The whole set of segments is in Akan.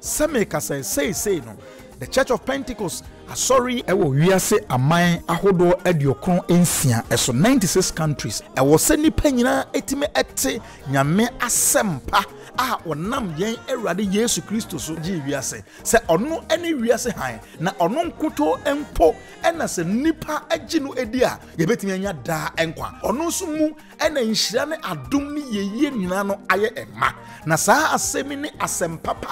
Sɛ merekasa yi, seesei no, The Church of Pentecost, Asɔre yi, wɔ wiase aman ahodoɔ aduokron nsia so, ninety six countries, ɛwɔ sɛ nnipa nyinaa tumi te Nyame asɛmpa a ɔnam yɛn Awurade Yesu Kristo so gyee wiase sɛ ɔno ne wiase hann, na ɔno nkutoo mpo na sɛ nnipa gye no di a yɛbɛtumi anya daa nkwa, ɔno nso mu. ɛna nhyira ne adom ne yɛyie nyinaa no ayɛ ɛma. Na saa asɛm yi ne asɛm papa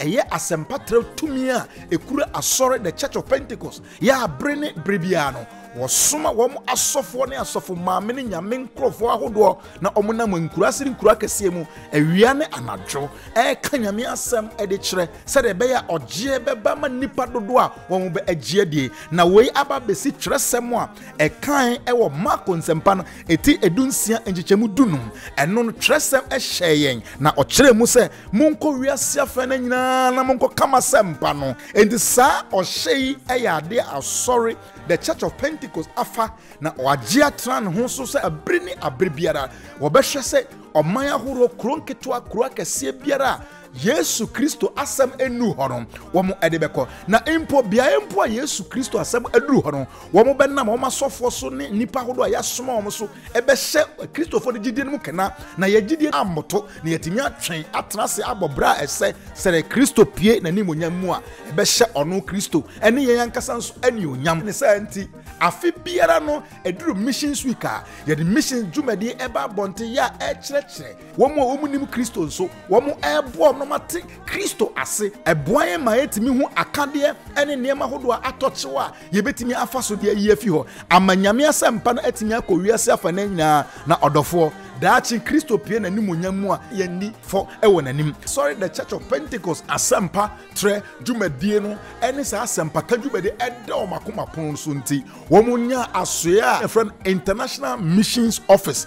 a ɛyɛ asɛmpa trɛ tumi a ɛkura asɔre the church of Pentecost yɛ abere ne bere biara no wɔsoma wɔn asɔfoɔ ne asɔfo maame ne nyame nkurɔfoɔ ahodoɔ na wɔn nam nkuraase ne nkura kɛseɛ mu awia ne anadwo ɛreka nyame asɛm de kyerɛ sɛdeɛ ɛbɛyɛ a ɔgyeɛ bɛba ma nnipa dodoɔ a wɔn bɛ agyeɛ die na wei aba bɛsi twerɛsɛm a ɛkae wɔ Marko nsɛmpa no ɛti edu nsia nkyekyɛmu du no, ɛno no twerɛsɛm hyɛɛ yɛn na ɔkyerɛɛ mu sɛ, Monkɔ wiase afã no nyinaa na monkɔ ka m'asɛmpa no. Enti saa ɔhyɛ yi yɛ adeɛ a asɔre, The Church of Pentecost, afa na wɔagye atena ne ho so sɛ abere ne abere biara wɔbɛhwɛ sɛ ɔman ahoroɔ, kuro nketewa, kuro akɛseɛ biara a Yesu Kristo asɛm nnuru hɔ no, wɔn de bɛkɔ. Na mpo beaeɛ mpo a Yesu Kristo asɛm aduru hɔ no, wɔn bɛnam wɔn asɔfoɔ so ne nnipa ahodoɔ a yɛasoma wɔn so bɛhyɛ Kristofoɔ no gyidie no mu kena, na yɛn gyidie ammoto, na yɛatumi atwɛn atena ase abɔ berɛ a ɛsɛ sɛ Kristo pue n'animuonyam mu a ɛbɛhyɛ ɔno Kristo ne yɛn ankasa nso anuonyam. Ne saa nti, afe biara no ɛduru Missions Week a, yɛde Missions dwumadie ba abɔnten yɛ a ɛrekyerɛkyerɛ Wɔn a wɔnnim Kristo nso, wɔreboa wɔn ma te Kristo ase. Ɛboa yɛn ma yɛtumi hu akadeɛ ne nneɛma hodoɔ a atɔ kyew a yɛbɛtumi afa so de ayi afi hɔ ama Nyame asɛmpa no atumi akɔ wiase afanan nyinaa. Na ɔdɔfoɔ, daakye Kristo pue n'animuonyam mu a yɛnni fɔ wɔ n'anim. Sɔre The Church of Pentecost asɛmpa trɛ dwumadie no ne saa asɛmpaka dwumadie a ɛda wɔn akoma pono so nti, wɔnyaa asoeɛ a yɛfrɛ no International Missions Office.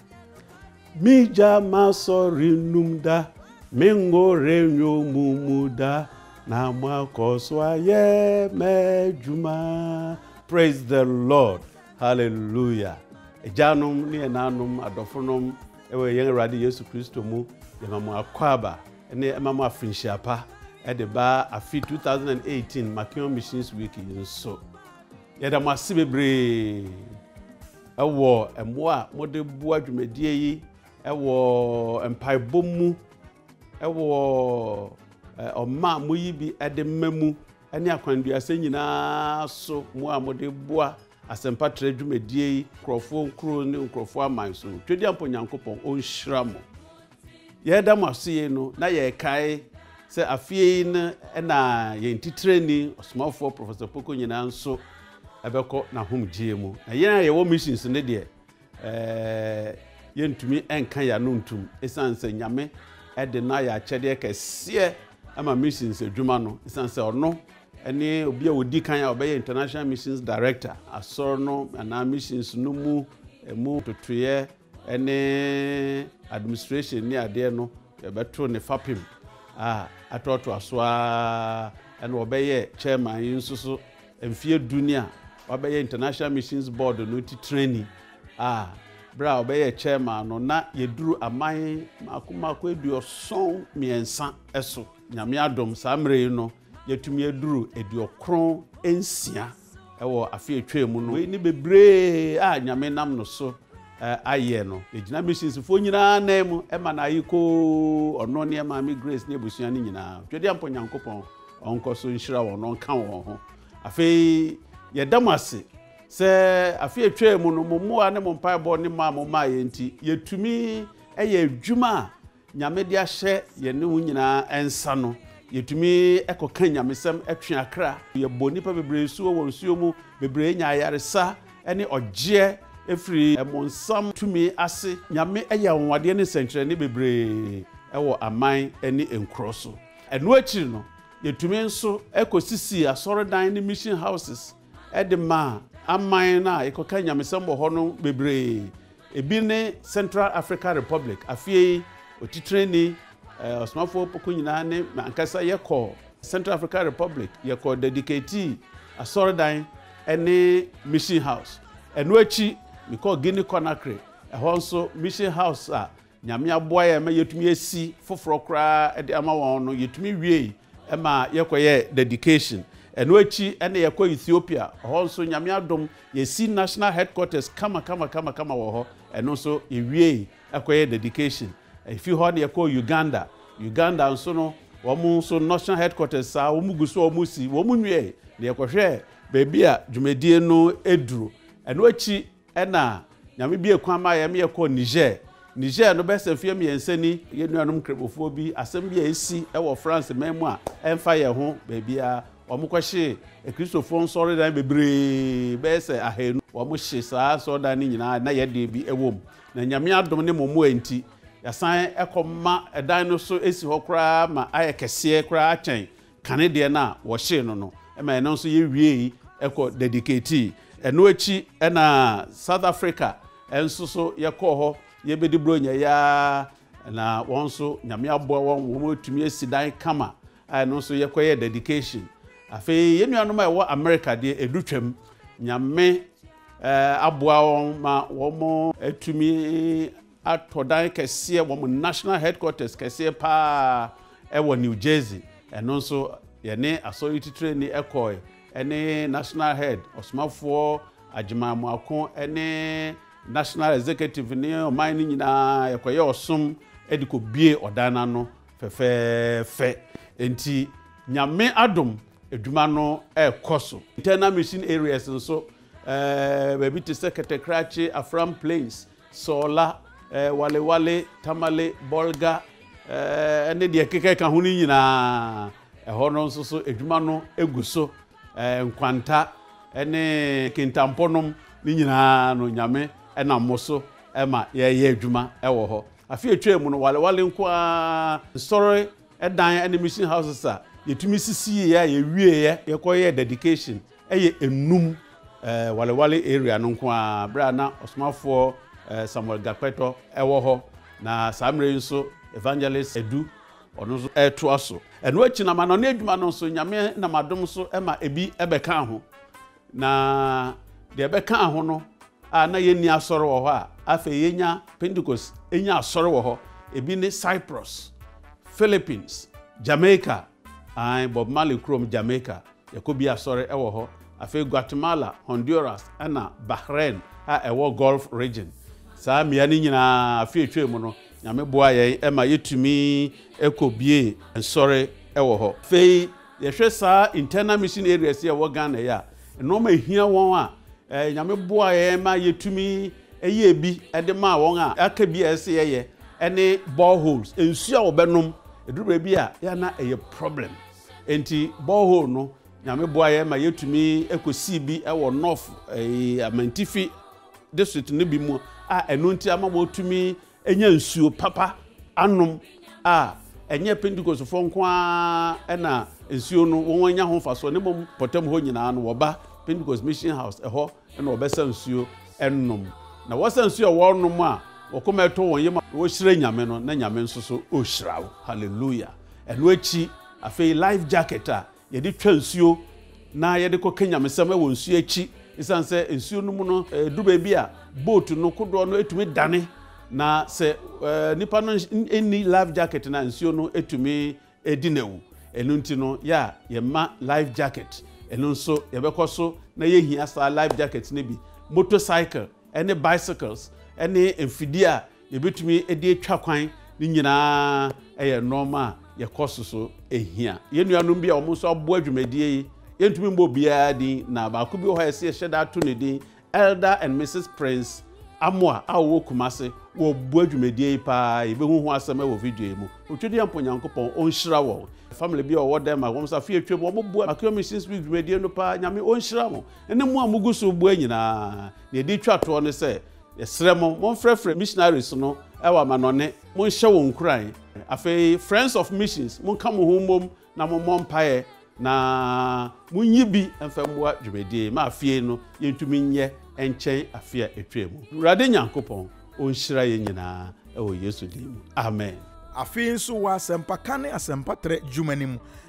M'egya m'asɔre nnum da, me ngo renyo mo mu da, na mo akɔ so ayɛ m'adwuma. Praise the Lord. Hallelujah. Agyanom ne ɛnanom adɔfonom ɛwɔ yɛn Awurade Yesu Kristo mu, yɛma mo akwaaba ne ɛma mo afinhyia pa ɛde ba afi 2018 Makeon Missions Week yi nso. Yɛda mo ase bebree wɔ mmoa a mode boa dwumadie yi wɔ mpaebɔ mu, wɔ ɔma a moyi bi de mma mu, ne akwanduasɛ nyinaa so mmoa a mode boa asɛmpa trɛ dwumadie yi, nkurɔfoɔ nkuro ne nkurɔfoɔ aman so. Twedeampɔ Nyankopɔn ɔnhyira mo. Yɛreda mo ase yei no, na yɛrekae sɛ afeɛ yi no na yɛn titirani ɔsomafoɔ Professor Poko nyinaa nso ɛbɛkɔ n'ahomgyeɛ mu. Na yɛn a yɛwɔ missions no deɛ, ɛɛ, yɛntumi nka yɛn ano ntum ɛsiane sɛ Nyame ɛde no ayɛ akyɛdeɛ kɛseɛ ɛma missions adwuma no ɛsiane sɛ ɔno ɛne obi a ɔdi kan a ɔbɛyɛ International Missions Director asɔre no anaa missions no mu ɛmu totoeɛ ne administration ne adeɛ no yɛbɛto ne fapem a atoatoa so ara ɛna ɔbɛyɛ chairman yi nso so mfeɛ du ni a wabɛyɛ international missions board no titirani a berɛ a ɔbɛyɛ chairman no na yɛduru aman mako mako aduɔson mmiɛnsa so nyame adom saa mmerɛ yi no yɛtumi aduru aduɔkron nsia wɔ afe a etwaam mu no. Wei ne bebree a Nyame nam no so ayɛ no. Egyina missionsfoɔ nyinaa nan mu ma no aye koo, ɔno ne Maame Grace ne abusua no nyinaa. Twedeampɔ Nyankopɔn ɔnkɔ so nhyira wɔn na ɔnka wɔn ho. Afei yɛda mo ase sɛ afe a etwaam mu no, mo mmoa ne mo mpaebɔ ne mɔ a momaeɛ nti, yɛtumi yɛ adwuma a Nyame de ahyɛ yɛne wo nyinaa nsa no, yɛtumi kɔka nyamesɛm twe akra. Yɛbɔ nnipa bebree nsu wɔ wɔn nsuo mu, bebree nya ayaresa ne ɔgyeɛ firi ɛmonsam tumi ase. Nyame yɛ anwanwadeɛ ne nsɛnkyerɛnne bebree wɔ aman ne nkuro so. Ɛno akyiri no, yɛtumi nso kɔ sisii asɔredan ne mission houses de maa aman no a yɛkɔka nyamesɛm wɔ hɔ no bebree. Ebi ne Central Africa Republic. Afie yi, otitrenni, Ɔsomafoɔ Opoku nyinaa ne me ankasa yɛkɔɔ Central Africa Republic. Yɛkɔɔ Dediketii Asɔredan ne Mission House. Ɛno akyi, mekɔɔ Guinea Conakry. Ɛhɔ nso, Mission House a Nyame aboa yɛn ma yɛtumi asi foforɔ koraa de ama wɔn no, yɛtumi wiei ma yɛkɔyɛɛ dedication. Ɛno akyi na yɛkɔɔ Ethiopia, hɔ nso Nyame adom yɛasi National Headquarters kama kama kama kama wɔ hɔ, ɛno nso yɛwiei kɔyɛɛ dedication. Ɛfiri hɔ na yɛkɔɔ Uganda, Uganda nso no wɔn nso National Headquarters saa wɔn gu so a wɔn si, wɔn nwiei na yɛkɔhwɛɛ baabi a dwumadie no duru. Ɛno akyi. Ɛna Nyame biee kwan maa yɛn ma yɛkɔɔ Niger. Niger no, bɛyɛ sɛ mfeɛ mmiɛnsa ni, yɛn nuanom Nkramofoɔ bi, asɛm bi a asi wɔ France man mu a ɛmfa yɛn ho baabiara, wɔkɔhyee Akristofoɔ nsɔredan bebree, bɛyɛ sɛ ahanu. Wɔhye saa nsɔredan no nyinaa a na yɛn deɛ bi wɔ mu. Na Nyame adom ne mo mmoa nti, yɛasan kɔma ɛdan no so si hɔ koraa ma ayɛ kɛseɛ koraa kyɛn kane deɛ no a wɔhyee no no ma ɛno nso yɛwiei kɔ dedicatii. Ɛno akyi na South Africa nso so yɛkɔɔ hɔ yɛbɛdi Buronya yi ara na wɔn nso Nyame aboa wɔn wɔn atumi asi dan kama a ɛno nso yɛkɔyɛ dedication. Afei yɛn nuanom a ɛwɔ America deɛ ɛdu twam Nyame aboa wɔn ma wɔn atumi atɔ dan kɛseɛ, wɔn national headquarters kɛseɛ paa ɛwɔ New Jersey, ɛno nso yɛne asɔre titirani ɛkɔɔe ɛne national head ɔsomafoɔ Agyeman Moako ɛne national executive ne ɔman no nyinaa yɛkɔyɛ ɔsom ɛde kɔ bue ɔdan no ano fɛfɛɛfɛ ɛnti Nyame adom adwuma no ɛkɔ so. Internal mission areas nso ɛɛ baabi te sɛ Kɛtɛkrakye, Afram Plains, Sɔɔla, Walewale, Tamale, Bɔlga ne deɛ ɛkeka ka ho no nyinaa. Ɛhɔ no nso so adwuma no gu so. Nkwanta ne kintampɔ nom no nyinaa no Nyame nam mo so ma yɛyɛ adwuma wɔ hɔ. Afe a ɛtwaa mu no Walewale nko ara nsɔre dan ne mission houses a yɛtumi sisiiɛ a yɛwieɛ yɛkɔyɛɛ dedication Ɛyɛ Enum eh, Walewale area no nko ara berɛ a na Ɔsomafoɔ eh, Samuel Gakpɛtɔ ɛwɔ hɔ. Na saa mmerɛ yi nso Evangelist Edu ɔno nso ɛretoa so. Ɛno akyi no amanɔne adwuma no nso Nyame nam adom so ɛma ebi ɛbɛkaa ho. Na deɛ ɛbɛkaa ho no a na yɛnni asɔre wɔ hɔ a afei yɛnya Pentecost ɛnya asɔre wɔ hɔ. Ebi ne Cyprus, Philippines, Jamaica, Aane, Bob Marley kurom Jamaica, yɛkɔ bi asɔre ɛwɔ hɔ, afei Guatemala, Honduras ɛna Bahrain a ɛwɔ Gulf Region. Saa mmea no nyinaa afe a ɛtwaam no Nyame boaa yɛn ma yɛtumi kɔ biee nsɔre ɛwɔ hɔ. Afei yɛhwɛ saa Internal Mission Areas yi a ɛwɔ Ghana yi a, Nnoɔma a ɛhia wɔn a Nyame boaa yɛn ma yɛtumi yɛɛ bi de maa wɔn a aka bi a ɛsɛ sɛ yɛyɛ ne bore holes, nsuo a wɔbɛnom. Ɛduru baabi a yɛ a na ɛyɛ problem. Enti bore hole no, Nyame boaa yɛn ma yɛtumi kɔsii bi wɔ North, Amantifi district no bi mu a ɛno nti ama wɔtumi nya nsuo papa anom a, ɛnyɛ Pentekostefoɔ nko ara na nsuo no wɔn anya ho mfasoɔ ne mmom pɔtam hɔ nyinaa no wɔba Pentecost Mission House ɛhɔ na wɔbɛsa nsuo ɛnom na wɔsa nsuo a wɔnom a wɔkoma ɛtɔ wɔn yam a wɔhyira Nyame no na Nyame nso so ɔhyira wo hallelujah ɛno akyi afei life jacket a Yɛde twa nsuo na yɛde kɔ ka nyamesɛm wɔ nsuo akyi. Esiane sɛ nsuo no mu no, ɛduru baabi a boat no kodoɔ no tumi dane. Na sɛ nipa no nni life jacket no a, nsuo no tumi di no awu. Ɛno nti no, yɛ a yɛma life jacket. Ɛno nso yɛbɛkɔ so na yɛhia saa life jacket no bi. Motorcycle ne bicycles ne mfidie a yɛbɛtumi de atwa kwan no nyinaa yɛ nnoɔma a yɛkɔ so so hia. Yɛn nuanom bi a wɔn nso aboa dwumadie yi, yɛntumi mbɔ biara din na baako bi wɔ hɔ a yɛsɛ yɛhyɛ da to ne din, Elder and Mrs Prince Amoah a wɔwɔ Kumase, wɔboa dwumadie yi paa, yɛbɛhu ho asɛm wɔ video yi mu. Otwediampɔ Nyankopɔn ɔnhyira wɔn. Family bi a wɔwɔ Denmark, wɔn nso afe atwam, wɔn boa Makewa Missions Week dwumadie no paa, Nyame ɔnhyira mo, ɛne mo a mogu so boa nyinaa. Deɛ ɛde twa toɔ ne sɛ, Yɛsrɛ mo, monfrɛfrɛ missionaries no wɔ amanɔnne, monhyɛ wɔn nkuran. Afei, Friends of Missions, monka mo ho mmom na mommɔ mpaeɛ na monyi bi mfa mmua dwumadie ma afie no yɛntumi nyɛ nkyɛn afe a ɛtwaa mu. Awurade Nyankopɔn ɔnhyira yɛn nyinaa wɔ Yesu din mu, amen. Afei nso wɔ asɛmpaka ne asɛmpatrɛ dwuma no mu,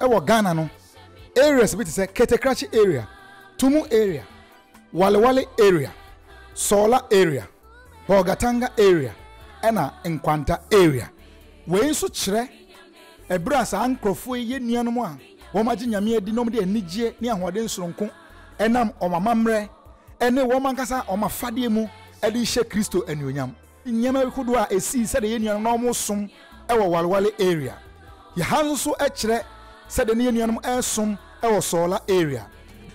Ɛwɔ Ghana no, areas bi te sɛ Ketekrakye area, Tumu area, Walewale area, Sɔɔla area, Bolgatanga area ɛna Nkwanta area. Wei nso kyerɛ ɛberɛ a saa nkorɔfoɔ yi yɛ nuanom a wɔn agye Nyame adi na wɔn de anigyeɛ ne ahoɔden sononko ɛnam wɔn amammerɛ ɛne wɔn ankasa wɔn afadeɛ mu ɛde rehyɛ Kristo anuonyam. Nneɛma bi kodoɔ a ɛsii sɛdeɛ yɛn nuanom na wɔn som wɔ Walwale area yɛ ha nso so kyerɛ sɛdeɛ na yɛn nuanom resom wɔ Soola area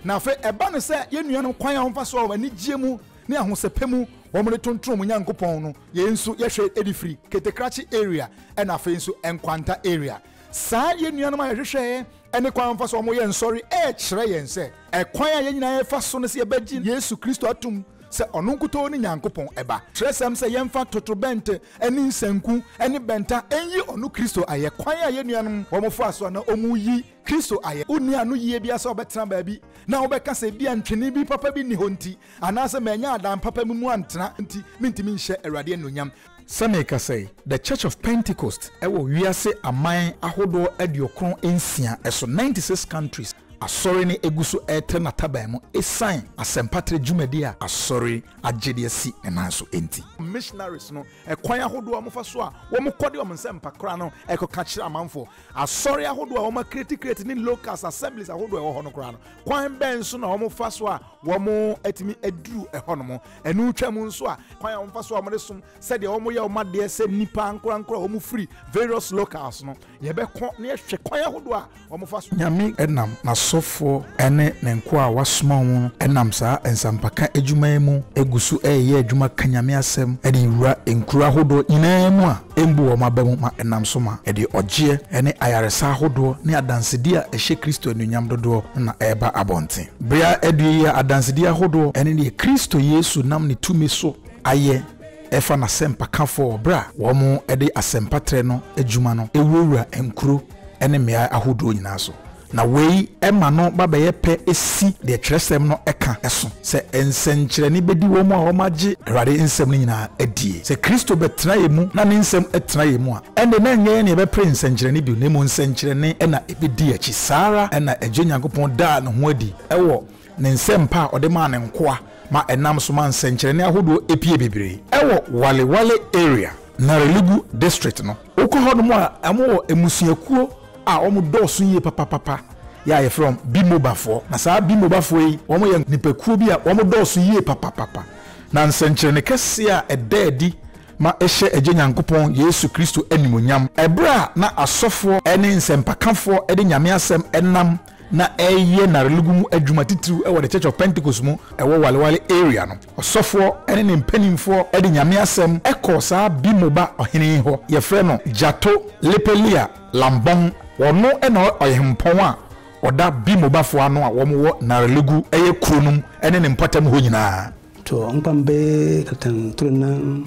na afei ɛba no sɛ yɛn nuanom kwan a wɔn fa so wɔ anigyeɛ mu ne ahosɛpɛ mu wɔn de tontron wɔn Nyankopɔn no yɛn nso yɛhwɛ de firi Ketekrakye area ɛna afei nso Nkwanta area saa yɛn nuanom a yɛhwehwɛɛ ne kwan wɔfa so a wɔyɛ nsɔre rekyerɛ yɛn sɛ ɛkwan a yɛn nyinaa yɛfa so no sɛ yɛbɛgye Yesu Kristo atom sɛ ɔno nkutoo ne Nyankopɔn Ba. Kyerɛsɛm sɛ yɛmfa totorobɛnto ne nsanku ne bɛnta nyi ɔno Kristo ayɛ. Kwan a yɛn nuanom wɔfaa so a na wɔreyi Kristo ayɛ. Wonni ano yiye biara sɛ wobɛtena baabi na wobɛka sɛ ebia ntwene bi papa bi nni hɔ nti, anaasɛ mannya adan papa bi mu antena nti, mintumi nhyɛ Awurade anuonyam. Sɛ merekasa yi, The Church of Pentecost wɔ wiase aman ahodoɔ aduokron nsia so, ninety six countries, Asɔre no gu so retrɛ n'ataban mu ɛsiane asɛmpatrɛ dwumadie a Asɔre agye de asi ne nan so nti. Missionaries no, ɛkwan ahodoɔ a wɔfa so a wɔkɔ de wɔn nsɛmpa kora no kɔka kyerɛ amanfoɔ. Asɔre ahodoɔ a wɔakreti kreti ne locals, assemblies, ahodoɔ a ɛwɔ hɔ no koraa no, kwan bɛn so na wɔfa so a wɔatumi aduru hɔnom. Ɛno twam nso a, kwan a wɔfa so a wɔde som sɛdeɛ wɔyɛ wɔn adeɛ sɛ nnipa ankorankoro a wɔfiri various locals no, yɛbɛkɔ na yɛhwɛ kwan ahodoɔ a wɔfa so. Nyame nam n'asɔfoɔ ne ne nkoa a wasoma wɔn no nam saa nsampaka adwuma yi mu gu so reyɛ adwuma ka Nyame asɛm de wura nkuro ahodoɔ nyinaa mu a, mbu wɔn aba mu ma ɛnam so ma ɛde ɔgyeɛ ne ayaresa ahodoɔ ne adansedi a ɛhyɛ Kristo anuonyam dodoɔ no na ɛreba abɔnten. Bere a adue yi a adansedi ahodoɔ ne deɛ Kristo Yesu nam ne tumi so ayɛ fa n'asɛmpakafoɔ wɔ berɛ a wɔde asɛmpatrɛ no adwuma no wurawura nkuro ne mmeaɛ ahodoɔ nyinaa so Na wei ma no ba bɛyɛ pɛ si deɛ twerɛsɛm no ka so, sɛ nsɛnkyerɛnne bɛdi wɔn a wɔagye Awurade nsɛm no nyina ara die. Sɛ Kristo bɛtena yɛn mu na ne nsɛm tena yɛn mu a, ɛnde na ɛnyɛ yɛn na yɛbɛpere nsɛnkyerɛnne bio, na mmom nsɛnkyerɛnne na ɛbɛdi yɛn akyi. Saa ara na Agya Nyankopɔn daa ne ho adi wɔ ne nsɛmpa a ɔde maa ne nkoa ma ɛnam so ma nsɛnkyerɛnne ahodoɔ pue bebree wɔ Wale Wale Area, Narelegu District no. Wokɔ hɔnom a, wɔwɔ mmusuakuo a wɔdɔɔso yie papapapa yi a wɔfrɛ wɔn Bimobafoɔ. Na saa Bimobafoɔ yi, wɔyɛ nnipakuo bi a wɔdɔɔso yie papapapa. Na nsɛnkyerɛnne kɛseɛ a ɛda adi ma ɛhyɛ Agya Nyankopɔn, Yesu Kristo animuonyam. Ɛberɛ a na asɔfoɔ ne nsɛmpakafoɔ de Nyame asɛm nam na ɛreyɛ n'arelogu mu adwuma titiriw wɔ The Church of Pentecost mu ɛwɔ Walewale area no. Ɔsɔfoɔ ne ne mpanimfoɔ de Nyame asɛm kɔɔ saa Bimoba ɔhene yi hɔ, yɛfrɛ no Jato Lepelia Lambong. Ɔno na ɔhempɔn a ɔda Bimobafoɔ ano a wɔn wɔ Narelogu yɛ kuro no mu ne ne mpɔtam hɔ nyinaa. Tɔ nkpambe katan toro nan.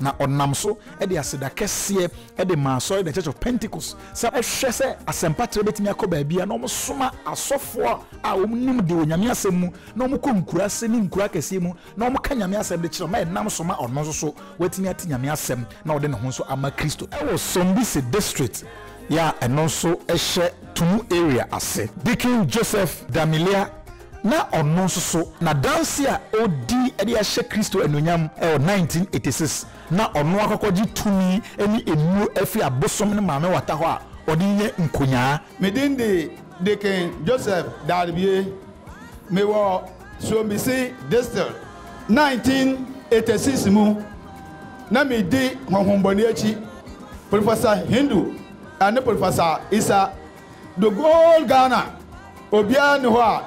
na ɔnam so de aseda kɛseɛ de maa Asɔre The Church of Pentecost sɛ ɔhwɛ sɛ asɛmpatrɛ bɛtumi akɔ baabiara na wɔsoma asɔfoɔ a wɔnim de wɔ Nyame asɛm mu na wɔkɔ nkuraase ne nkuro akɛseɛ mu na wɔka Nyame asɛm de kyerɛ ma ɛnam so ma ɔno nso so watumi ate Nyame asɛm na ɔde ne ho nso ama Kristo wɔ Sombisi District yɛ a ɛno nso hyɛ Tumu Area ase. Deacon Joseph Damilia na ɔno nso so n'adanse a odi de ahyɛ Kristo anuonyam wɔ 1986 na ɔno akɔkɔgye tumi ne nnuru afi abosom ne maame wata hɔ a ɔde renya nkonyaa. Me din de Deacon Joseph Darbie. Mewɔ Suombisi District. 1986 mu, na midi honhommɔne akyi, Professor Hindu ne Professor Issa. The whole Ghana obiara nni hɔ a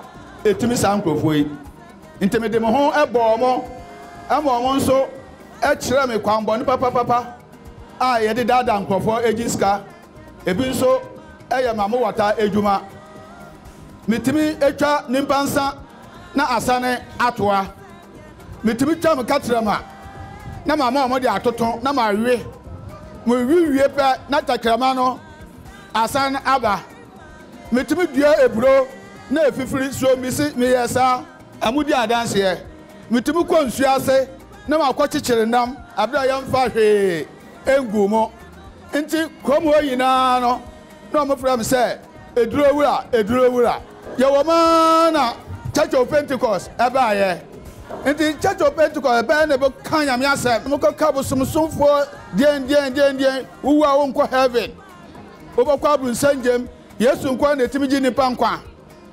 ɛtumi saa nkurɔfoɔ yi nti mede me ho bɔɔ mo ma wɔn nso kyerɛɛ me kwanbɔne papapapa a yɛde daadaa nkurɔfoɔ gye sika ebi nso yɛ ma mowata adwuma metumi twa nipa nsa na asane atoa metumi twa me katrama na mama wɔn de atoto na mawe mewe wie pɛ na tɛkrɛma no Asan aba. Metumi dua aburo na afifiri so. Mise meyɛɛ saa. Ɛho di adanseɛ. Metumi kɔ nsuo ase na makɔkyekyere nam berɛ a yɛmfaa hwee nguu mu. Nti kurom hɔ nyinaa no, na wɔfrɛ me sɛ Aduro Wura, Aduro Wura. Yɛwɔ mu ara na Church of Pentecost baeɛ. Nti Church of Pentecost bɛyɛ na ɛbɛka Nyame asɛm. Mokɔka bosomsomfoɔ deɛndeɛndeɛndeɛn, wowu a wonkɔ heaven. Wobɔkɔ aboro nsɛngyam. Yesu nkoaa na etumi gye nnipa nkwa.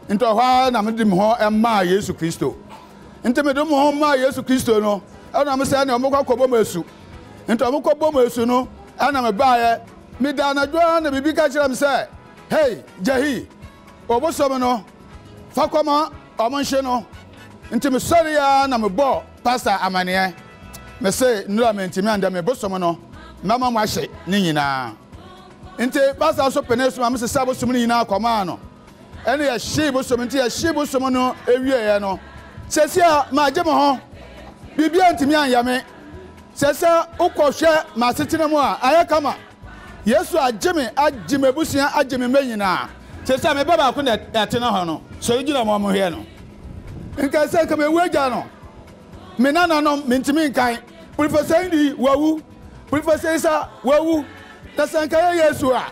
Ntsi ɔhɔ ara na mede moho maa Yesu Kristo. Ntsi mede moho maa Yesu Kristo no, nna mesɛ nea wɔbɔkɔ akɔbɔ me esu. Ntsi wɔkɔ bɔɔ me esu no, nna mebaeɛ. Medaa anadwo ara na biribi ka kyerɛɛ me sɛ, Hei, Jahi, ɔbosom no, fa kɔma wɔnhye no. Ntsi mesɔree ara na mebɔɔ Pastor amaneɛ mese nnura mentimi andɛ me bosom no mɛma mo ahye ne nyinaa nti pastor nso pene so ma me sesa bosom no nyinaa kɔmaa no ɛne yɛhyee bosom nti yɛhyee bosom no ɛwieɛ no sɛsia magye mo ho biribia ntimi anyɛ me sɛsia wokɔhwɛ m'asetena mu a ayɛ kama Yesu agye me, agye m'abusua, agye me mma nyinaa. Te sɛ me ba baako na ɛtena hɔ no, sɔre gyina ma wɔnhwɛ no. Nkae sɛ nka mewu agya no, me nananom, mentumi nkan. Professor Indi, wawu. Professor Isa, wawu. Na sɛ nka ɛyɛ Yesu a,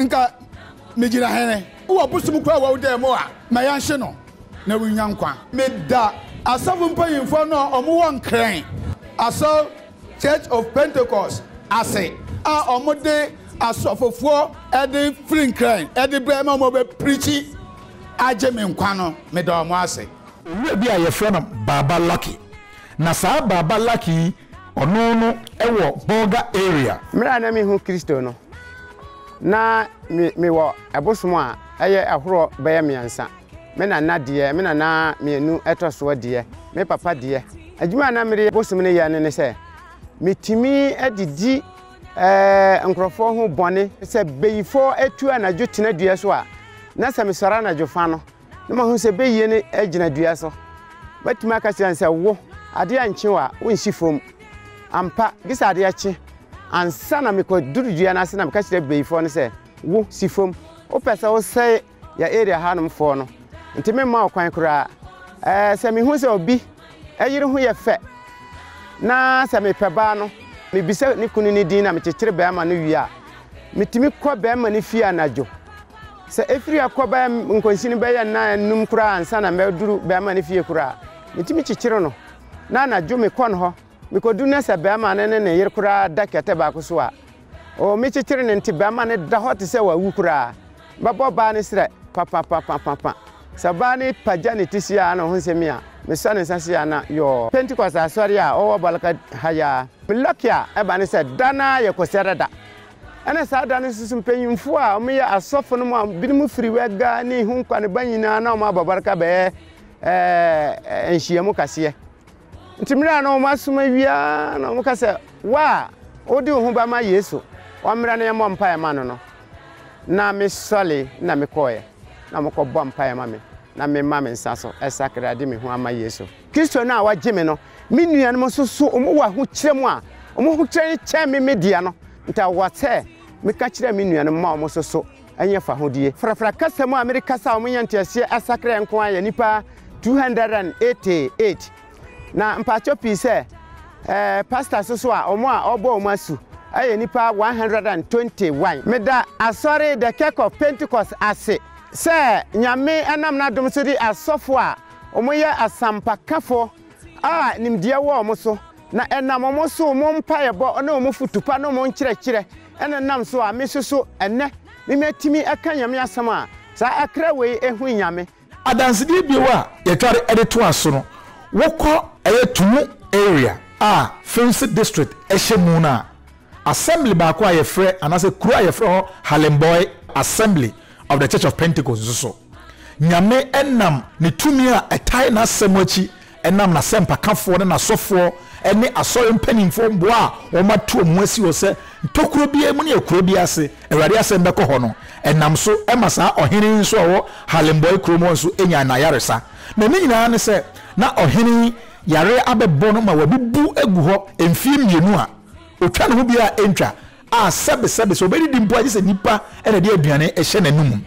nka megyina hene. Wɔ bosom koro a wawu dan mu a, ma yɛnhye no na wonnya nkwa. Meda asɔfo mpanyimfoɔ no a wɔwɔ Nkrɛn asɔre Church of Pentecost ase a ɔmo de asɔfofoɔ de firi nkran de brɛ ma ɔmo bɛ preachi agye me nkwa no me da ɔmo ase. Owura bi a yɛfrɛ no Baaba Lucky. Na saa Baaba Lucky yi ɔno no wɔ Bolga area. Mmerɛ a na menhu Kristo no, na me wɔ ɛbosom a ɛyɛ ahorɔ bɛyɛ mmeɛnsa. Me nana deɛ, me nana mmienu ɛtɔ soɔ deɛ, me papa deɛ, adwuma a na mede bosom no yɛ no ne sɛ, metumi de di eh, nkurɔfoɔ ho bɔne. Sɛ beyifoɔ atu anadwo tena dua so a, na sɛ mesɔre anadwo fa no, na mahu sɛ beyie no gyina dua so. Mɛtumi aka kyerɛ no sɛ, wo, adeɛ ankye wo a, wonsi fam. Ampa, gye sɛ adeɛ kye. Ansa na mekɔduru dua no ase na meka kyerɛ beyifoɔ no sɛ, wo, si fam. Wopɛ sɛ wosɛe yɛ area hanom foɔ no nti me mma ɔkwan koraa ɛɛ sɛ me hu sɛ obi ɛyere ho yɛ fɛ na sɛ me pɛ baa no me bisa ne kunu ne din na me kyekyere bɛrima no wie a me tumi kɔ bɛrima ne fie anadwo sɛ efiri akɔ bɛɛ nkonsi no bɛyɛ nna enum koraa ansa na mɛduru bɛrima ne fie koraa me tumi kyekyere no na anadwo me kɔ no hɔ Mekɔduru na sɛ barima no ne ne yere koraa da kɛtɛ baako so a, oo me kyekyere no nti barima no da hɔ te sɛ wawu koraa. Mɛbɔ ɔbaa no serɛ papapapapapa. Sɛ ɔbaa no pagya ne ti seaa na ɔho sɛ me a, mesɔ ne nsa seaa na yɔɔ. Pentecost asɔre a ɔwɔ Balaka ha yi ara. Me lucky a ɛba ne sɛ da no ara yɛ Kɔsiada da. Ɛna saa da no nso so mpanyimfoɔ a wɔyɛ asɔfo no mu a binom firi Wɛga ne Ihunkwa ne ba nyinaa na wɔabɔ Balaka bɛyɛ ɛɛ nhyiamu kaseɛ. Nti mmerɛ a na wɔn asom awie ara na wɔn ka sɛ, wo a wode wo ho ba ma Yesu, ɔmmra na yɛmmɔ mpaeɛ ma no no. Na me sɔre na me kɔɔɛ, na wɔn kɔ bɔ mpaeɛ ma me, na me ma me nsa so ɛsakra de me ho ama Yesu. Kristo no a wagye me no, me nuanom nso so wɔn wɔ ahokyerɛ mu a, wɔn ahokyerɛ no kyɛn me me deɛ no, nti awɔ sɛ me ka kyerɛ me nuanom ma wɔn nso so. ɛnyɛ fahodie. Frafra kasa mu a mede kasa a wɔnya nteaseɛ asakraɛ nko ara yɛ nnipa 288. Na mpakyɛw pii sɛ ɛɛ pastors nso a wɔn a wɔbɔ wɔn asu ɛyɛ nnipa 121. Meda Asɔre The Kirk of Pentecost ase sɛ Nyame nam n'adom so de asɔfo a wɔyɛ asampakafo a nimdeɛ wɔ wɔn so na ɛnam wɔn so wɔn mpaeɛbɔ ne wɔn fotu pa ne wɔn nkyerɛkyerɛ Ɛna nam so a me nso so ɛnnɛ me matumi ɛka Nyame asɛm a saa akra wei ɛhu Nyame. Adansedie bio a yɛtware de toa so no, wokɔ. Ɛyɛ Tumu area a Fimsi district ɛhyɛ mu no a, assembly baako a yɛfrɛ anaasɛ kuro a yɛfrɛ hɔ Halemboy Assembly of the Church of Pentecost nso so. Nyame nam ne tumi a ɛtae n'asɛm akyi nam n'asɛmpakafoɔ ne n'asɔfoɔ ne asɔre mpanimfoɔ mmoa a wɔato wɔn ho asi hɔ sɛ ntokuro biara mu ne akuro biara ase Awurade asɛm bɛkɔ hɔ no nam so ma saa ɔhene yi nso a ɔwɔ Halenbɔe kurom hɔ nso nyaa n'ayaresa. Na ne nyinaa ne sɛ na ɔhene yi yareɛ abɛbɔ no ma wabubu agu hɔ mfeɛ mmienu a ɔtwa ne ho biara ntwa a sɛbesɛbe sɛ ɔbɛdidi mpo a, gye sɛ nnipa na ɛde aduane hyɛ n'anom.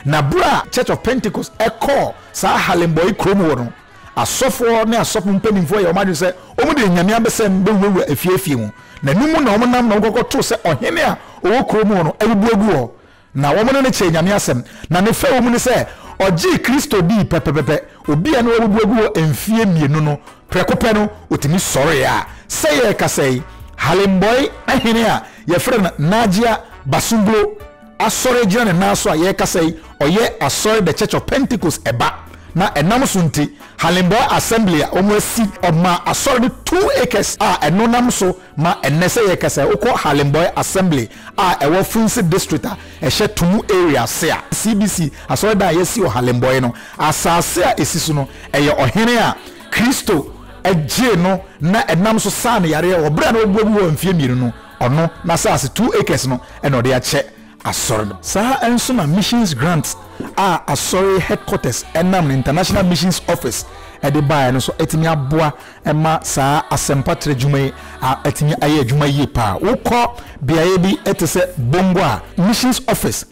Na berɛ a Church of Pentecost kɔɔ saa Harlemboy kuro mu hɔ no, asɔfoɔ ne asɔfo mpanimfoɔ yɛɛ wɔn adwene sɛ wɔde anyame abɛsɛm bɛwurawura afie afie mu, na ɛno mu na wɔnam na wɔkɔkɔto sɛ ɔhene a ɔwɔ kuro mu hɔ no abubu agu hɔ, Na wɔn ne no kyɛɛ Nyame asɛm, na ne fɛwmu ne sɛ ɔgyee Kristo dii pɛpɛpɛpɛ, obi a na wabubu agu hɔ mfie mmienu no, prɛko pɛ no ɔtumi sɔree a sɛ yɛrekasa yi Halembɔe ahene a yɛfrɛ no Najia Basunglo asɔre gyina ne nan so a yɛrekasa yi ɔyɛ asɔre The Church of Pentecost ɛba na ɛnam so nti Halembɔe Assembly a wɔn asi ɔmaa asɔre no two acres a ɛno nam so ma ɛnnɛ sɛ yɛrekasa yi wokɔ Halembɔe Assembly a ɛwɔ Funsi District a ɛhyɛ Tumu Area ase a CBC asɔredan a yɛasi wɔ Halembɔe no asase a ɛsi so no yɛ ɔhene a Kristo gyee no na ɛnam so saa no yareɛ wɔ berɛ a na wabuabu hɔ mfeɛ mmienu no, ɔno n'asase two acres no na ɔde akyɛ asɔre no. Saa ara nso na Missions Grant a asɔre headquarters nam no International Missions Office de baeɛ no nso atumi aboa ɛma saa asɛmpa tra adwuma yi atumi ayɛ adwuma yie pa ara. Wokɔ beaeɛ bi te sɛ Bongo a, Missions Office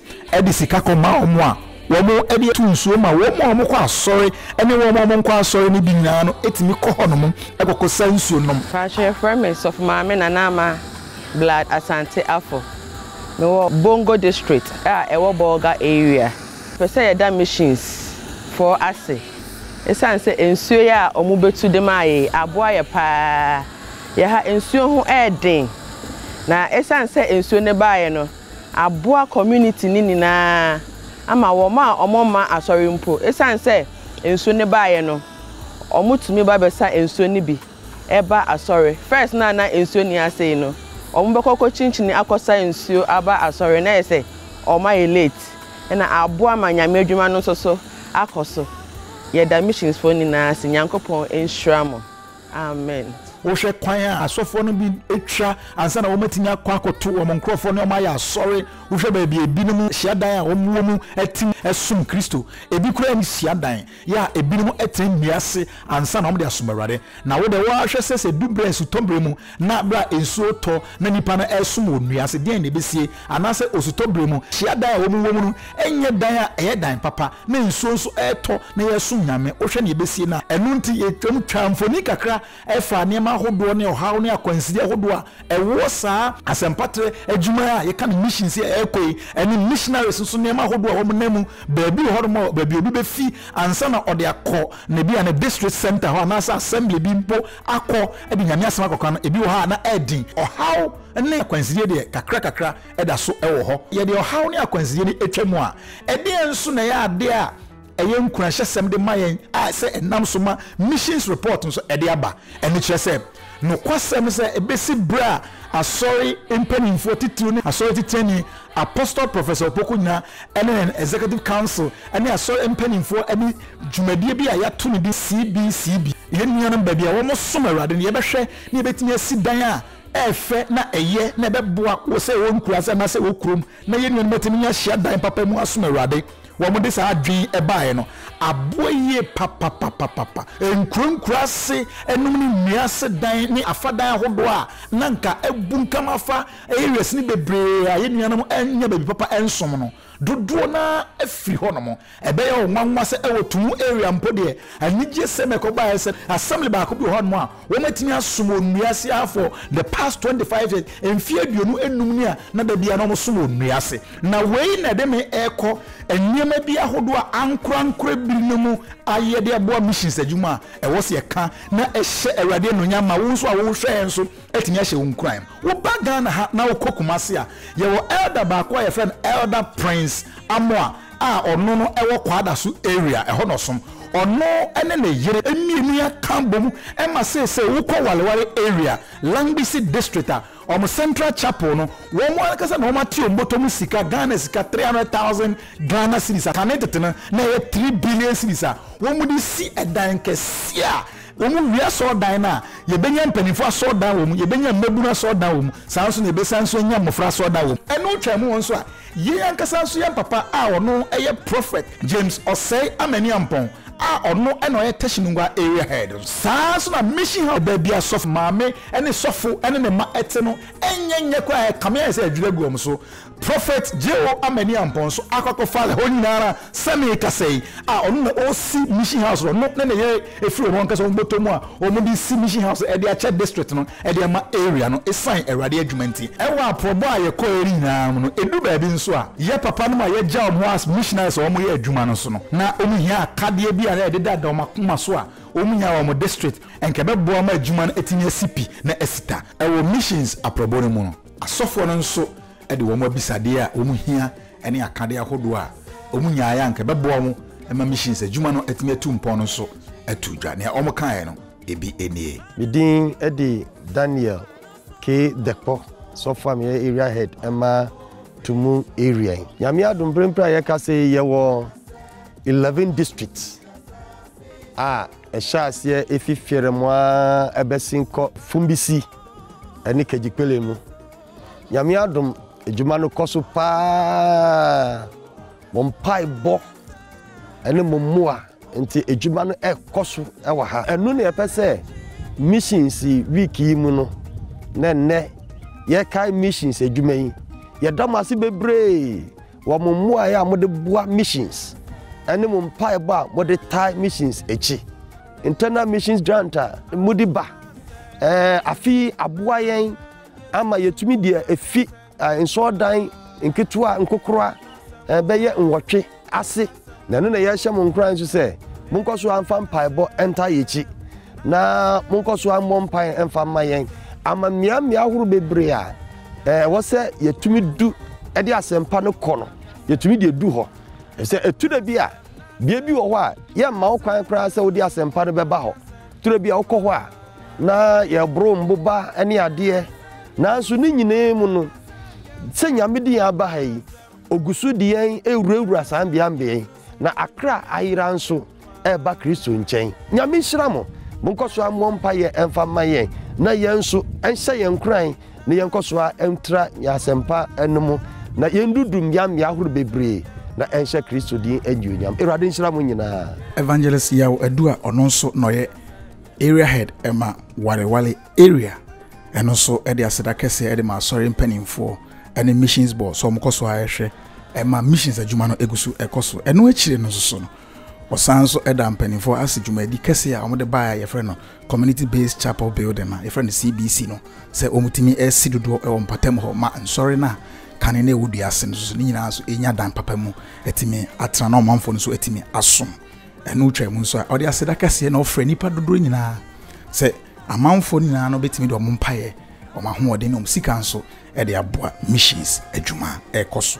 de sika kɔma wɔn a wɔde tu nsuo ma wɔn a wɔkɔ asɔre ne wɔn a wɔnkɔ asɔre no bi nyinaa no tumi kɔ hɔnom kɔkɔsa nsuo nom. Mpakyɛ yɛfrɛ me Sɔfo Maame Nana Ama Blood Asante Afo. Mewɔ Bongo District a ɛwɔ Bolga Area. Pɛ sɛ yɛda Missions foɔ ase. Esiane sɛ nsuo yi a wɔbɛtu de maa yei aboa yɛ pa ara, yɛ ha nsuo ho yɛ den. Na esiane sɛ nsuo no baeɛ no, aboa community no nyinaa ama wɔn a wɔmma asɔre mpo, esiane sɛ nsuo no baeɛ no, wɔtumi ba bɛsa nsuo no bi. ɛba asɔre. First no a na nsuo nni ase yi no, wɔn bɛkɔ akɔ kyinkyini akɔ sa nsuo aba asɔre na ayɛ sɛ wɔn ayɛ late ɛna aboa ma Nyame adwuma no nso so akɔ so. Yɛda missions foɔ nyinaa ase. Nyankopɔn nhyira mo. Amen. Wohwɛ kwan a asɔfoɔ no bi twa ansa na wɔatumi akɔ akɔto wɔn nkorɔfoɔ ne wɔn ayɛ asɔre. Wohwɛ baabi a ebinom hyiadan a wɔwɔ mu te no som Kristo. Ebi koraa nni hyiadan. Yɛ a ebinom tena nnua ase ansa na wɔde asom Awurade. Na wo de, wo ara hwɛ sɛ sɛ edu bere a esutɔ bere mu na bere a nsu retɔ na nnipa no resom wɔ nnua ase deɛn na ebesie? Anaasɛ osutɔ bere mu hyiadan a wɔwɔ mu no nyɛ dan a ɛyɛ dan papa na nsuo nso retɔ na yɛresom Nyame? Wohwɛ nea ebesie no a. Ɛno nti yɛtwam twaa mfoni kakra ɛfa nneɛma ahodoɔ ne ɔhaw ne akwanside ahodoɔ a ɛwɔ saa asɛmpatrɛ adwuma a yɛka no mission sɛ ɛrekɔ yi ɛne missionaries nso nneɛma ahodoɔ a wɔn nan mu baabi hɔ nom a baabi obi bɛfi ansa na ɔde akɔ na ebi a ne district center hɔ anaasɛ assembly bi mpo akɔ de nyame asɛm akɔka no ebi wɔ hɔ a na ɛden ɔhaw ne akwansideɛ deɛ kakra kakra ɛda so ɛwɔ hɔ yɛde ɔhaw ne akwansideɛ no atwa mu a ɛdeɛ nso na ɛyɛ adeɛ a Ɛyɛ nkuranhyɛsɛm de ma yɛn a sɛ ɛnam so ma Missions Report nso ɛde aba. Ɛno kyerɛ sɛ nokwasɛm no sɛ ebesi bere a Asɔre mpanyimfo atitiriw ne Asɔre Titenani Apostle Professor Opoku Nyina ne yɛn Executive Council ne Asɔre mpanyimfo ne dwumadie bi a yɛato no din CBCB, Yɛn Nuanom Baabi a Wɔsom Awurade no, yɛbɛhwɛ na yɛbɛtumi asi dan a ɛfɛ na ɛyɛ na ɛbɛboa wɔ sɛ ɛwɔ nkuraase anaasɛ ɛwɔ kurom na yɛn nuanom atumi anya hyiadan papa mu asom Awurade. wɔde saa adwene baeɛ no aboa yie papapapapa. Nkurankuran ase nom ne nnua ase dan ne afa dan ahodoɔ a na anka abunkam afa areas no bebree a yɛn nuanom nnya baabi papa nsom no, dodoɔ no ara afiri hɔnom. Ɛbɛyɛ wo nwanwa sɛ wɔ Tumu area mpo deɛ, anigyesɛm a ɛkɔbaeɛ ne sɛ, assembly baako bi wɔ hɔnom a Wɔatumi asom wɔ nnua ase ha for the past twenty five years, mfe aduonu nnum ni a na da biara na wɔsom wɔ nnua ase. Na wei na ɛde me rekɔ nneɛma bi ahodoɔ a ankorankora bi no mu ayɛ de aboa missions adwuma a ɛwɔ sɛ yɛka na ɛhyɛ Awurade anuonyam ma wo nso a wohwɛ yɛn nso atumi ahyɛ wo nkuran. Woba Ghana ha na wokɔ Kumasi a, yɛwɔ Elder baako a yɛfrɛ no Elder Prince Amoah, a ɔno no wɔ Kwadaso area ɛhɔ na ɔsom. Ɔno ne ne yere mmienu aka abom ma seesei wokɔ Wareware area, Langbisi district a, wɔn central chapel no, wɔn ankasa na wɔate wɔn bɔtɔ mu sika, Ghana sika three hundred thousand Ghana cedis a kane tete no na ɛyɛ three billion cedis a wɔde resi dan kɛseɛ a wɔwie asɔrdan no a yɛbɛnya mpanimfoɔ asɔrdan wɔ mu, yɛbɛnya mmabunu asɔrdan wɔ mu, saa nso na yɛbɛsan nso anya mmɔfra asɔrdan wɔ mu. Ɛno twaam wɔn nso a, Yei ankasa nso yɛ mpapa a ɔno yɛ Prophet James Osei Amani-Ampong a ɔno na ɔyɛ Teshinungwa Area Head nso. Saa ara nso na Mission House baabi a sɔfo maame ne sɔfo ne ne mma te no nyɛ nyɛ koraa, ɛkame ayɛ sɛ adwiri agu wɔn so. Prophet J.O. Amani-Ampong nso akɔ akɔfa ɛhɔ nyina ara sɛ merekasa yi a ɔno na ɔresi Mission House no, ɔno ne ne yere firi wɔn ankasa wɔn bɔtɔ mu a wɔde resi Mission House de akyɛ District no. de ama area no esiane Awurade adwuma nti. Wɔ aporɔbɔ a yɛkɔɔɛ no nyinaa mu no, edu baabi nso a, yɛ papanom a yɛagya wɔn hɔ as missionaries a wɔyɛ adwuma no so no, na wɔhia akadeɛ bi a na ɛdedada wɔn akoma so a wɔnya wɔ wɔn district, anka ɛbɛboa ma adwuma no atumi asi pi na asi ta. Wɔ missions aporɔbɔ no mu no, asɔfoɔ no nso de wɔn abisadeɛ a wɔhia ne akadeɛ ahodoɔ a wɔnyaeɛ a anka ɛbɛboa wɔn ma missions adwuma no atumi atu mpɔn no nso too dwa. Nea wɔkaeɛ no. ebi nie. Me din de Daniel K. Dekpo, sɔfo a meyɛ area head ma Tumu area yi. Nyame adom bere mpere a yɛkasa yi yɛwɔ eleven districts a ɛhyɛ aseɛ efi Fiɛrɛmo a ɛbɛsi nkɔ Fumbisi ɛne Kegyikpele mu. Nyame adom adwuma no kɔ so paa. Mo mpaebɔ ne mo mmoa nti adwuma no rekɔ so wɔ ha. Ɛno na yɛpɛ sɛ Missions Week yi mu no, na nnɛ yɛkae missions adwuma yi. Yɛda mo ase bebree wɔ mo mmuae a mode boa missions ne mo mpaebɔ a mode tae missions akyi. Internal Missions Grant a mode ba afe yi aboa yɛn ama yɛatumi de afi Nsɔrdan nketewa nkokora bɛyɛ nwɔtwe ase. Na ɛno na yɛrehyɛ mo nkuran nso sɛ, monkɔ so ara mfa mpaebɔ ntaa yɛn akyi, na monkɔ so ara mmɔ mpae mfa mma yɛn. Ama mmeammea ahorow bebree a ɛwɔ sɛ yɛtumi du de asɛmpa no kɔ no, yɛtumi de du hɔ. Efisɛ ɛto da bi a, bea bi wɔ hɔ a, yɛmma wo kwan koraa sɛ wode asɛmpa no bɛba hɔ. Turo bi a wokɔ hɔ a na yɛboro mboba ne adeɛ, nanso ne nyinaa mu no, sɛ Nyame de yɛn aba ha yi, Ogu so de yɛn rewurawura saa mbeambea yi, na akra ayera nso reba Kristo nkyɛn. Nyame nhyira mo. Monkɔ so mmɔ mpaeɛ mfa mma yɛn, na yɛn nso, ɛnhyɛ yɛn nkuran na yɛnkɔ so ara ntra yɛn asɛmpa no mu na yɛndudu mmeammea ahorow bebree na ɛnhyɛ Kristo din anuonyam. Awurade nhyira mo nyinaa. Evangelist Yaw Adu a ɔno nso na ɔyɛ Area Head ma Wareware Area ɛno nso de aseda kɛseɛ de ma Asɔre mpanimfoɔ ne Missions Board sɛ wɔkɔ so ara hwɛ ma Missions adwuma no gu so kɔ so. Ɛno akyire no nso so no, Wɔsan nso da mpanimfoɔ ase dwumadi kɛseɛ a wɔde baeɛ a yɛfrɛ no Community Based Chapel Building a yɛfrɛ no CBC no sɛ wɔtumi si dodoɔ wɔ mpɔtam hɔ ma nsɔre no a kane no ɛwɔ dua ase no nso ne nyinaa nso ɛnya dan papa mu atumi atena na ɔmanfoɔ no nso atumi asom ɛno twa mu nso a ɔde aseda kɛseɛ na ɔfrɛ nnipa dodoɔ nyinaa sɛ amanfoɔ nyinaa no bɛtumi de wɔn mpaeɛ wɔn ahoɔden ne wɔn sika nso ɛde aboa missions adwuma ɛrekɔ so.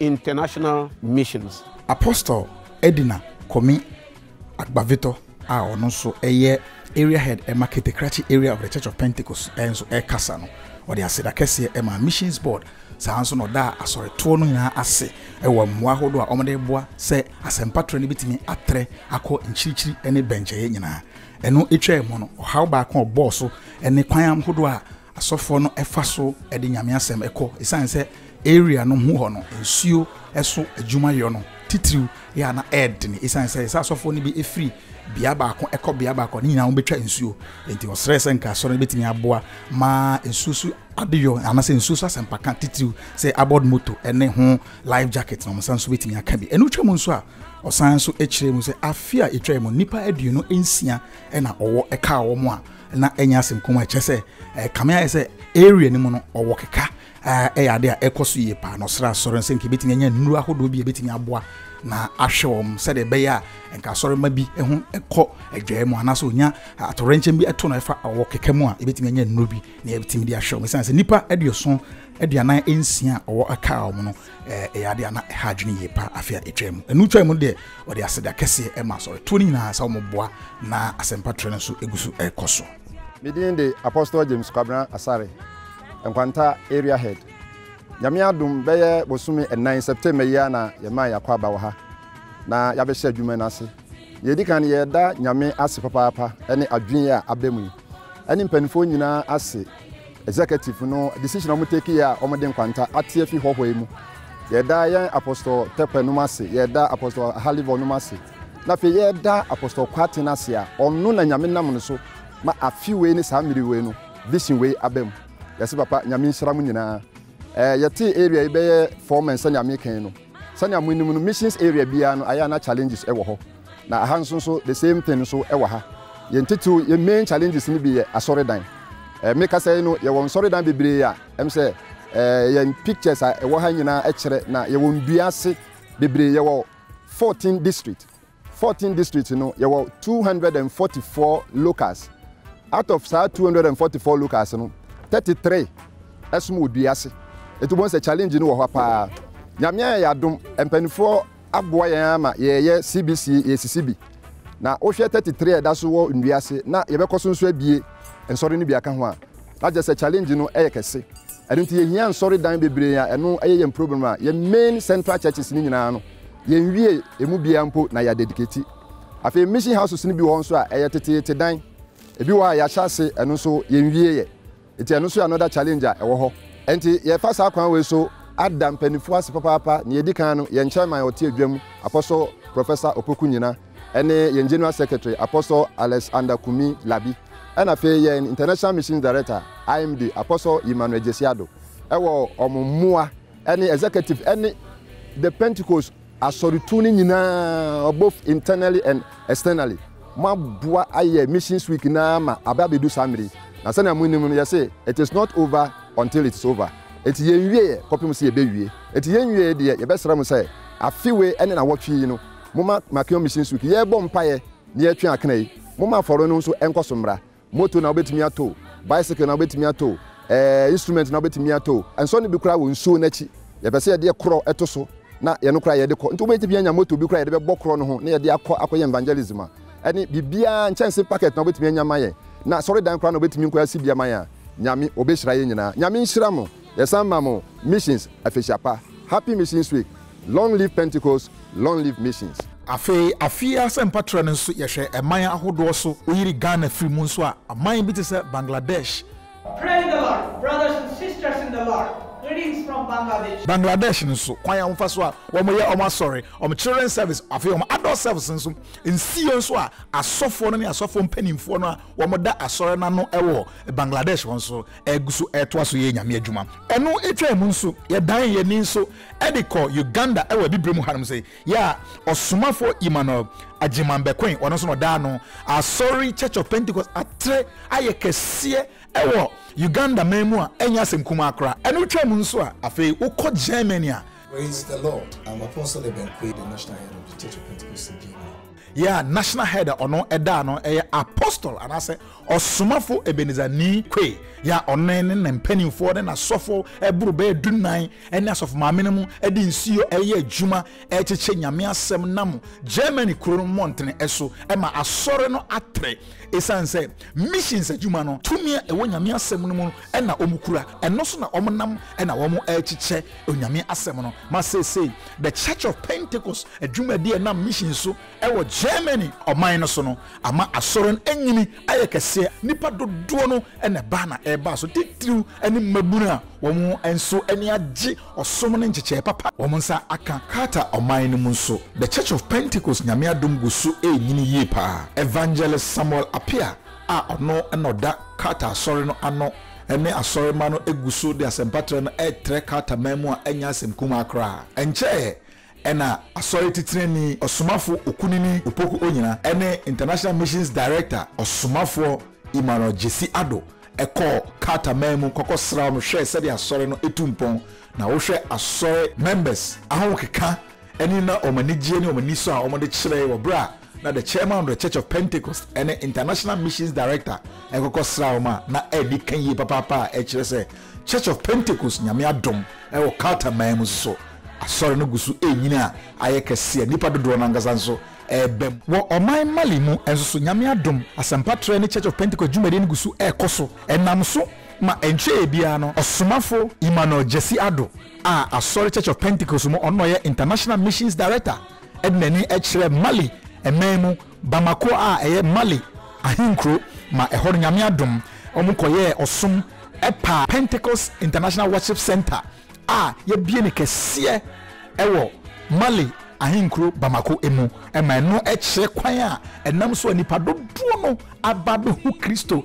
International Missions. Apostle Edina Komi Agbavitɔ a ɔno nso yɛ Area Head ma Ketekrakye Area of the Church of Pentecost nso rekasa no, ɔde aseda kɛseɛ maa Missions Board, saa ara nso na ɔdaa asɔretoɔ no nyinaa ase wɔ mmoa ahodoɔ a wɔde reboa sɛ asɛmpa trɛ no bɛtumi atrɛ akɔ nkyirikyiri ne bɛnkyɛeɛ nyinaa. Ɛno twaa mu no, ɔhaw baako a ɔbɔɔ so ne kwan ahodoɔ a Asɔfoɔ no fa so de Nyame asɛm kɔ esiane sɛ area no ho hɔ no nsuo so adwuma yɔ no titiriw yɛ a na ɛɛdene esiane sɛ sɛ asɔfoɔ no bi firi bea baako kɔ bea baako a ne nyinaa wɔbɛtwa nsuo enti ɔsrɛɛ sɛ nka asɔre no bɛtumi aboa ma nsuo so adeyɔ anasɛ nsuo so asɛmpaka titiriw sɛ aboard moto ne ho life jacket na wɔn nsa nso bɛtumi aka bi ɛno twa mu nso a ɔsan nso kyerɛ mu sɛ afe a ɛtwa mu nnipa aduonu nsia na ɔwɔ ɛkaa wɔn a na ɛnyɛ asɛm kɔn mu a ɛkyɛ sɛ ɛɛ kame ayɛ sɛ area no mu no ɔwɔ keka ɛyɛ ade a ɛkɔ so yie paa na ɔsrɛ asɔre no sɛ nka ebetumi anya nnuro ahodoɔ bi a ebetumi aboa na ahwɛ wɔn sɛdeɛ ɛbɛyɛ a nka asɔre ma bi ho kɔ adwae mu anaasɛ onya atorɛnkyɛm bi ɛto no ɛfa ɔwɔ keka mu a ebetumi anya nnuro bi na ebetumi de ahwɛ wɔn sɛ nipa aduoson aduanan nsia a ɔwɔ aka wɔn no Ɛyɛ ade a na ɛha adwene yie paa afe a ɛtwaam mu. Ɛno twaam no deɛ, wɔde aseda kɛseɛ maa asɔretoɔ no nyinaa sɛ wɔboa na asɛmpa trɛ no nso gu so rekɔ so. Me din de Apostle James Kwabena Asare, Nkwanta Area Head. Nyame adom, bɛyɛ bosome nnan, September yi ara na yɛmaa yɛn akwaaba wɔ ha, na yɛabɛhyɛ adwuma no ase. Nea ɛdi kan no, yɛda Nyame ase papaapa ne adwene yi a aba mu yi. ɛne mpaninfoɔ nyinaa ase executive no decision a wɔn take yɛ a wɔn de nkwanta ate afi hɔhɔ yi mu yɛda yɛn apostol tɛpɛ nom ase yɛda apostol halivɔ nom ase na afei yɛda apostol kwaten ase a ɔno na nyame nam no so ma afi wei ne saa mmiri wei no vision wei aba mu yɛse papa nyame nhyira mo nyinaa ɛɛ yɛte area yi bɛyɛ four men sɛnea mekɛn no sɛnea mo anim no missions area biara no ayɛ na challenges ɛwɔ hɔ Na aha nso nso the same thing nso wɔ ha. Yɛn titiriw yɛn main challenges no bi yɛ asɔredan. Eh, me kasa yi no yɛwɔ nsɔredan bebree a ɛm sɛ eh, yɛn pictures a ɛwɔ ha nyinaa kyerɛ na yɛwɔ ndua ase bebree yɛwɔ 14 district 14 district no yɛwɔ 244 locals out of saa 244 locals no 33 ɛsom wɔ dua ase ɛti wobɛhu sɛ challenge no wɔ hɔ paa nyame ayɛ yɛ adom mpanimfoɔ aboa yɛn ara ma yɛreyɛ CBC yɛresisi bi. Na wohwɛ thirty three a ɛda so wɔ nnua ase na yɛbɛkɔ so nso abue nsɔre no bi aka ho a, na kyerɛ sɛ challenge no yɛ kɛse. Ɛno nti yɛhia nsɔre dan bebree a ɛno yɛ yɛn problem a yɛn main central churches no nyinaa no yɛnwie ɛmu biara mpo na yɛadedicate. Afei mission houses no bi wɔ hɔ nso a ɛyɛ teteete dan, ɛbi wɔ hɔ a yɛahyɛ ase ɛno nso yɛnwieɛ. Nti ɛno nso yɛ another challenge a ɛwɔ hɔ. Nti yɛfa saa kwan wei so ada mpaninfoɔ ase papaapa. Nea ɛdi kan no, yɛn chairman a ɔte adwam, Apostle Professor Opoku Nyina, ɛne yɛn General Secretary, Apostle Alex Ander Kumi Labi, ɛna afei yɛn International Missions Director, IMD, Apostle Emmanuel Gyasi Addo, ɛwɔ wɔn mmoa ɛne Executive ɛne The Pentecost, Asɔretuo no nyinaa both internally and externally mo aboa ayɛ missions week no ara ma aba abɛdu saa mmerɛ yi. Na sɛnea mo nim no yɛse it is not over until it is over. Enti yɛn wieɛ kɔpem sɛ yɛbɛ wie. Enti yɛn wieɛ deɛ yɛbɛ srɛ mo sɛ afe wei ɛne nawɔtwe yi no mo ma Makeon missions week yɛbɔ mpaeɛ na yɛtwe akena yi. Mo ma afɔre no nso ɛnkɔ so mmra. Moto na wobɛtumi ato o, bicycle na wobɛtumi ato o, eh, instrument na wobɛtumi ato o, ɛnsɔ no bi koraa wɔ nsuo no akyi. Yɛpɛ sɛ yɛde yɛ korɔ to so na yɛno koraa yɛde kɔ. Nti wobɛtumi anya moto bi koraa yɛde bɛbɔ korɔ no ho na yɛde akɔ akɔyɛ evangelism a ɛne biribiara nkyɛnse packet na wobɛtumi anya ama yɛn na asɔredan koraa na wobɛtumi nkɔ asi bi ama yɛn a, Nyame, ɔbɛhyira yɛn nyinaa. Nyame nhyira mo. Yɛsan ma mo Missions Afehyia Pa, Happy Missions Week, Long Live Pentecost, Long Live Missions. Afei afie asɛmpa trɛ no nso yɛhwɛ ɛman ahodoɔ so woyiri Ghana firi mu nso a aman bi te sɛ Bangladesh, Praise the Lord brothers and sisters in the Lord greetings from Bangladesh. Bangladesh no nso kwan a wɔfa so a wɔn yɛ wɔn asɔre wɔn children service afei wɔn adult service nso nsiiɛ nso a asɔfoɔ no ne asɔfoɔ mpaninfoɔ no a wɔn da asɔre no ano wɔ Bangladesh hɔ nso ɛregu so retoa so yɛ Nyame adwuma. Ɛno twaa mu nso, yɛdan yɛn ani nso de kɔ Uganda wɔ Abibire mu hanom se, yɛ a Ɔsomafoɔ Emmanuel Agyeman bɛkoe, ɔno nso na ɔdaa no Asɔre Church of Pentecost atrɛ ayɛ kɛseɛ wɔ Uganda man mu a ɛnyɛ asɛm kumaa koraa. Ɛno twaa mu nso a, afei wokɔ Germany a, Praise the Lord I'm Apostle Ebenkwei the National Head of the Church of Pentecost in Germany. Yeah, National Head a ɔno ɛdaa no ɛyɛ Apostle anaasɛ Ɔsomafo Ebenezer Nii Kwei. Yeah, ɔno ne ne mpanimfoɔ ne n'asɔfo ɛboro bɛyɛ du nnan ɛne asɔfo maame no mu ɛde nsuo ɛyɛ adwuma ɛrekyekyɛ Nyame asɛm nam Germany kuro no mmɔntene ɛso ɛma asɔre no atere. Ɛsiane sɛ missions adwuma no tumi a ɛwɔ Nyame asɛm no mu no na wɔkura, ɛno so na wɔnam na wɔrekyekyɛ Onyame asɛm no ma seesei The Church of Pentecost adwumadi a ɛnam mission so wɔ Germany ɔman no so no ama Asɔre no anyini ayɛ kɛseɛ, nnipa dodoɔ no na ɛba na ɛba so titiriw ne mmabunu a wɔn nso ani agye ɔsom ne nkyekyɛɛ papa a wɔn nsa aka. Qatar ɔman no mu nso The Church of Pentecost Nyame adom gu so renyini yie paa. Evangelist Samuel Appiah a ɔno na ɔda Qatar Asɔre no ano ne asɔremma no gu so de asɛmpatrɛ no retrɛ Qatar man mu a ɛnyɛ asɛm kumaa koraa. Ɛnkyɛeɛ na Asɔre Titenani Ɔsomafo Okunini Opoku Onyina ne International Missions Director Ɔsomafoɔ Emmanuel Gyasi Addo kɔɔ Qatar man mu kɔkɔsraa wɔn hwɛɛ sɛdeɛ Asɔre no tu mpɔn na wohwɛ Asɔre members ahokeka ne na wɔn anigyeɛ ne wɔn anisɔ a wɔde kyerɛe wɔ berɛ a na the chairman of the Church of Pentecost ne International Missions Director ɛkɔkɔ sra wɔn a na ɛdi ka yie papaapa a ɛkyerɛ sɛ Church of Pentecost nyame adom ɛwɔ Qatar man mu soso asɔre no gu so ɛrenyini a ayɛ kɛse a nnipa dodoɔ no ankasa nso ɛreba mu. Wɔ ɔman Mali mu nso so nyame adom asɛmpa trɛ ne Church of Pentecost dwumadie no gu so ɛrekɔ so ɛnam so ma ɛntweɛ biara no ɔsomafo Emmanuel Gyasi Addo a asɔre Church of Pentecost mu ɔno na ɔyɛ International Missions Director de n'ani kyerɛ Mali man mu Bamako a ɛyɛ Mali ahenkuro ma ɛhɔ no Nyame adom wɔn kɔyɛɛ ɔsom pa Pentecost International Worship Centre a yɛabie no kɛseɛ wɔ Mali ahenkuro Bamako mu ma ɛno kyerɛ kwan a ɛnam so a nnipa dodoɔ no aba abɛhu Kristo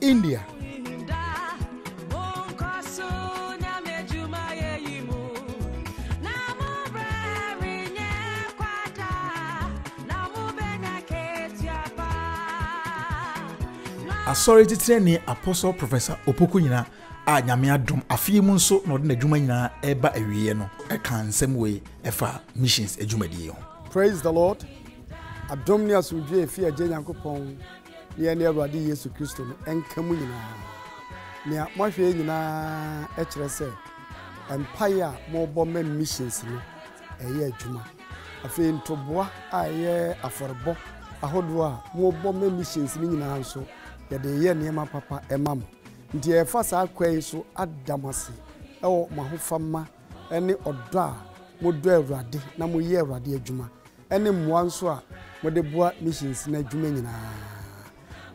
India. asɔre titenani apostle professor opoku nyina a nyame adom afei mu nso na ɔde n'adwuma nyinaa ɛreba awieɛ no ɛka nsɛm wei ɛfa missions adwumadie ho praise the lord adom ne asomdwe efi agye nyankopɔn Ne yɛne Awurade Yesu Kristo no nka mu nyinaa. Nea moahwɛ yɛ nyinaa kyerɛ sɛ mpae a morebɔ ma missions no reyɛ adwuma. Afei ntoboa a ɛyɛ afɔrebɔ ahodoɔ a morebɔ ma missions no nyinaa nso, yɛde reyɛ nneɛma papa ma mo. Nti yɛrefa saa kwan yi so ada mo ase wɔ mo ahofama ne ɔdɔ a modɔ Awurade na moyɛ Awurade adwuma ne mmoa nso a mode boa missions no adwuma nyinaa.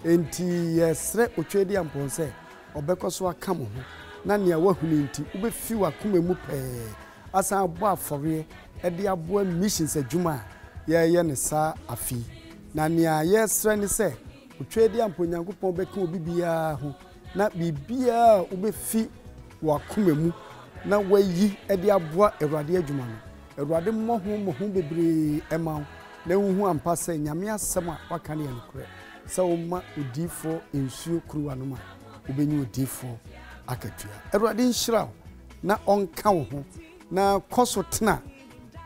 Enti yɛsrɛ Otweaduampɔn sɛ ɔbɛkɔ so aka mo ho na nea woahunu nti wubefi w'akoma mu pɛɛ asan abɔ afɔreɛ de aboa missions adwuma a yɛreyɛ no saa afe yi. Na nea yɛsrɛ ne sɛ Otweaduampɔn Nyankopɔn bɛka obi biara ho na biribiara a wubefi w'akoma mu na woayi de aboa Awurade adwuma no, Awurade mmɔ ho mmɔho bebree mma wo na wunhu ampa sɛ Nyame asɛm a waka no yɛ nokorɛ, sɛ woma odiyifoɔ nsuo kuruwa nom a, wobɛnya odiyifoɔ akatua. Awurade nhyira wo na ɔnka wo ho, na kɔ so tena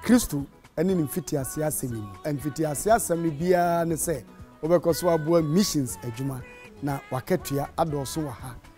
Kristo ne Ne mfitiaseɛ asɛm yi mu. Mfitiaseɛ asɛm no biara ne sɛ wobɛkɔ so aboa missions adwuma, na w'akatua adɔɔso wɔ ha.